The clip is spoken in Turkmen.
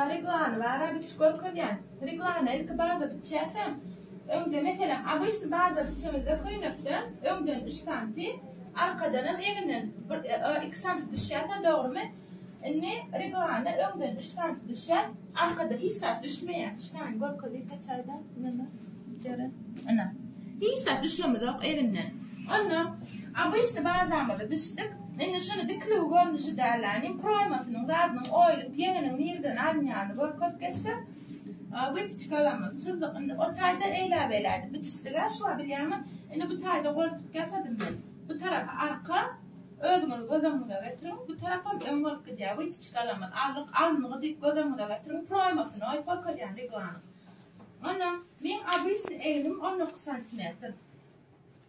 Reglany bara biçip görkezýän. Reglany ilki baza biçýärsiň. Öňde meselem obyçny baza biçemizde köýnekden öňden üç santi arkadanam egninden bir iki santi düşýär da dogrymy? Indi reglany öňden üç santi düşýär arkadan hiç zat düşmeýär. Düşýäni görkezip geçäýdä ynamam biçerin. Ynha. Hiç zat düşemizok egninden. Onda obyçny bazamyzy biçdik. Indi şuny dikiligi görnüşi dälläniň proýmasynyň zadynyň oýulyp ýeňiniň nirden alynýanyny görkez geçsek witiçkalamyz çyzdyk indi o taýda eýläbeýlädi bitişdigä şuwa bilýäňmi indi bu taýda goltuk ýasadym men bu tarapy arka özüňiz göz öňüňize getiriň bu tarapam öň bolup gidýär witiçkalamyz aldyk alnygy diýip göz öňüňize getiriň proýmasyny oýup görkezýän reglanyň ondan meň obysny egnim on dokuz santimetr.